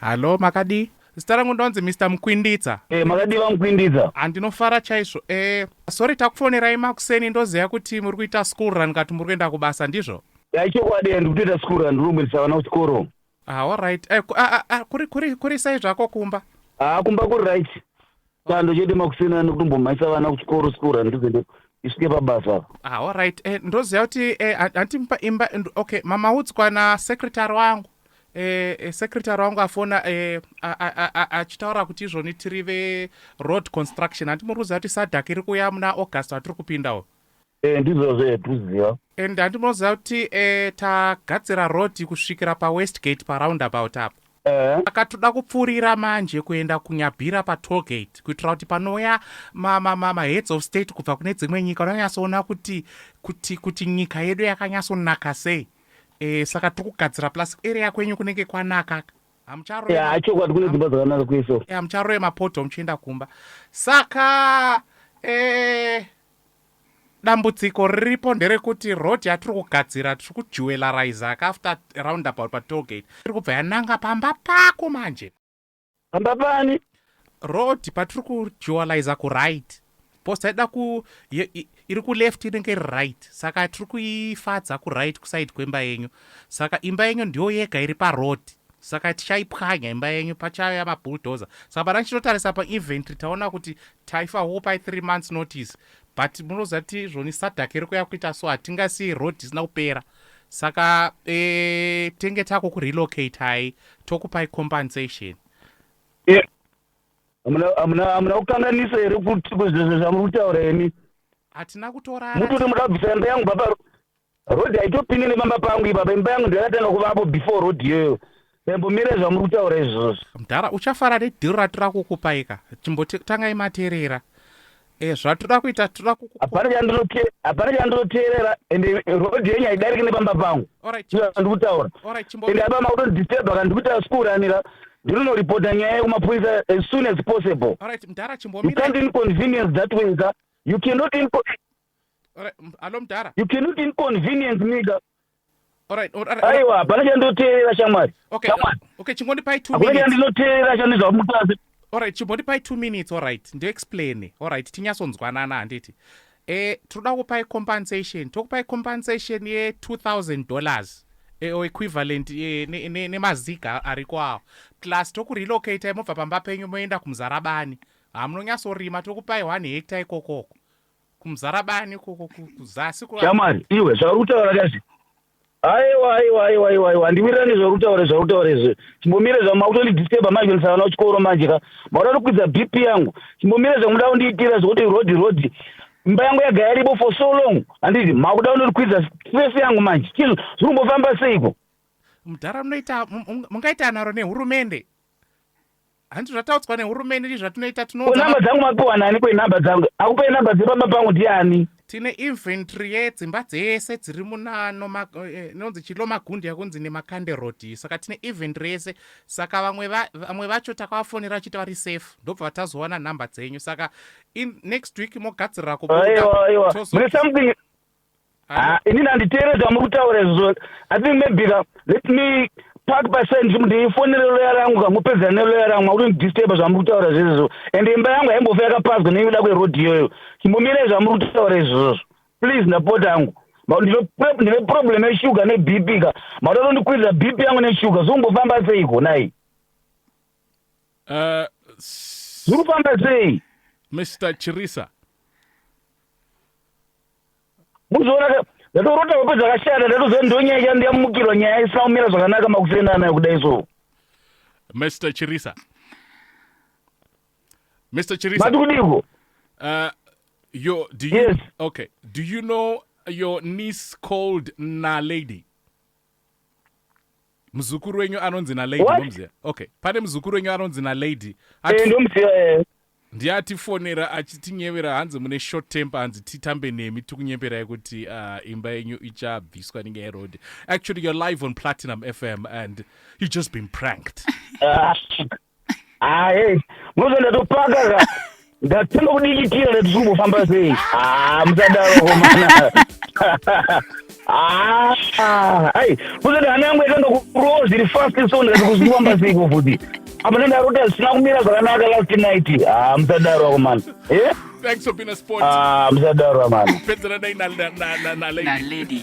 Hallo makadii? Zita rangu ndonzi Mister Mukwinditsa. Eh makadii vaMukwinditsa? Ah ndinofara chaizvo. Eh sorry takufonerai makuseni ndozeya kuti muri kuita school run kati muri kuenda kubasa ndizvo? Ya ichokwadi ndiri kutoita school run ndiri kumbendisa vana kuchikoro. Ah alright. Eh ku, a, a, a, kuri kuri kuri sei zvako kumba? Ah kumba kuri right. chando chete makuseni ano kutombomhaisa vana kuchikoro school run ndizende isvike pabasa apa ah, allright eh, ndoziva kuti eh, andimupa imba okay mamaudzwa nasecretary wangu eh, eh, secretary wangu afona eh, achitaura kuti izvoni tiri veroad construction handimuruziva kuti sadak iri kuuya muna august atiri kupindawo e, ndizvo zve tuziva and handimoziva kuti e, tagadzira road kusvikira pawestgate paroundabout apo Eh. saka toda kupfuurira manje kuenda kunyabhira patollgate kuitira kuti panouya maheads of state kubva kune dzimwe nyika unonyatsoona kuti kuti kuti nyika yedu yakanyatsonaka sei e, saka tiri kugadzira plus area kwenyu kunenge kwanaka hamucharoeachokwadi kune dzimba dzakanaka kweso hamucharoe mapoto muchienda kumba saka e, Dambudziko riripo nderekuti road yatiri kugadzira tiri kujewelariza ka after roundabout pa toll gate iri kubva yananga pamba pako manje. Pamba pani? Road patiri kujewaliza ku right post yaida ku iri ku left inenge iri right saka tiri kuifadza ku right kuside kwemba yenyu saka imba yenyu ndiyo yega iri pa road saka tichaipwanya imba yenyu pachaya mabulldozer saka pana ndichitotarisa pa inventory taona kuti Taifa wo pai three months notice but munoziva kuti izvoni sadhake rikuya kuita so hatingasiye road isina kupera saka e, tenge tako kurelocate hai tokupai compensation eh, hamuna kukanganisa here kuzvezvo zvamuri kutaura imi hatina kutorara muti kuti muda kubvisa imba yangu baba Road haitopinde nepamba pangu ipapa imba yangu ndakatanga kuvapo before road iyoyo ndaimbomira zvamuri kutaura izvozvo mdhara uchafara nedhiro ratira kukupaika chimbotangai materera e, eh, zvatoda kuita toda kuhapana chandinoteerera ende road yenyu haidariki nepamba pangu andiri kutaura ende apa makutondidisturba ka ndiri kutaura sikuuranira ndinonoripota nyaya yekumapurisa as soon as possible you can't inconvenience that way ka you cannot alo mdara you cannot inconvenience me ka aiwa hapana chandoteerera shamwari okay chingondipai two minutes chandinoteerera chandizva mutasi alright chimbotipai two minutes alright ndoexplaine alright tinyatsonzwanana handiti e tinoda kupai compensation tokupai compensation ye-two thousand dollars e, o equivalent e, nemaziga ne, ne ariko awo plus tokurelocatei mobva pamba penyu moenda kumuzarabani hamunonyatsorima tokupai one hecta ikokoko kumuzarabani ikoko kuzasi shamwari iwe zvauri kutaura kazvi aiwa aiwa aiwa aiwa aiwa handiwirirani nezvauri kutaura zvauri kutaura izvi chimbomire zvangu makutondidisturba manje ndisavana kuchikoro manje ka makuda kukwidza bp yangu chimbomire zvangu muda kundiitira zvekuti rodi rodi mba yangu yaga yaripo for so long handiti makuda kundikwidza stress yangu manje chizvo zviri kumbofamba seiko mudhara munoita mungaita naro nehurumende Hanti zvataudzwa nehurumende ndi zvatinoita tinoona. Ko number dzangu mapiwa nani ko number dzangu? Akupa number dzepamba pangu ndiani? Tine inventory yedzimba dzese dziri munano ma, eh, nonzi chilo magundi yakunzi nemakande road iyi saka tine inventory yese saka vamwe va, vamwe vacho takavafonera vachiti vari safe ndobva vatazowana number dzenyu saka in next week mogadzirira kubuda Aiwa aiwa. Mune something Ah, ini ndanditeerera zvamuri kutaura izvozvo i think maybe ka let me park paside ndichiti ndiifonere loya rangu ka mupedzera neloya rangu makuri ndidisturba zvamuri kutaura zvezvo and imba yangu haimbofa yakapazwa nekuda kwerodhi iyoyo chimbomirei zvamuri kutaura izvozvo please ndapota angu ndine problem yeshuga neb p ka makuda tondikwirira b p yangu neshuga zvokumbofamba seiko nai uh, zvikufamba sei mr chirisa muzoona ndatorota hope dzakashata ndatoziva ndonyaya chandu yamukirwa nyaya isina kumira zvakanaka makusenda anayo kudai so mr chirisa mr chirisa mati kudiko uh, yo do you, yes. okay do you know your niece called nalady muzukuru wenyu anonzi nalady ndomuziva okay pane muzukuru wenyu anonzi nalady eh, ndomuziva eh. ndiye atifonera achitinyevera hanzi mune short temper hanzi titambe nemi tikunyeperai kuti ah, imba yenyu ichabviswa ninge yerod actually you're live on platinum fm and you just been pranked ah, Ah, hey, munozo ndatopaka ka. Ndatanga kudikitira ndati zvikumbofamba sei. Ah, musadaro komana. Ah, ah, ai, muzoda hana yangu yatanga kurowa zviri fast so ndikati kuzvifamba sei ko futi. Apa ndandarota zvisina kumira zvakanaka last night. Ah, musadaro komana. Eh? Thanks for being a sport. Ah, musadaro komana. Pedzera dai na na na na lady. nalady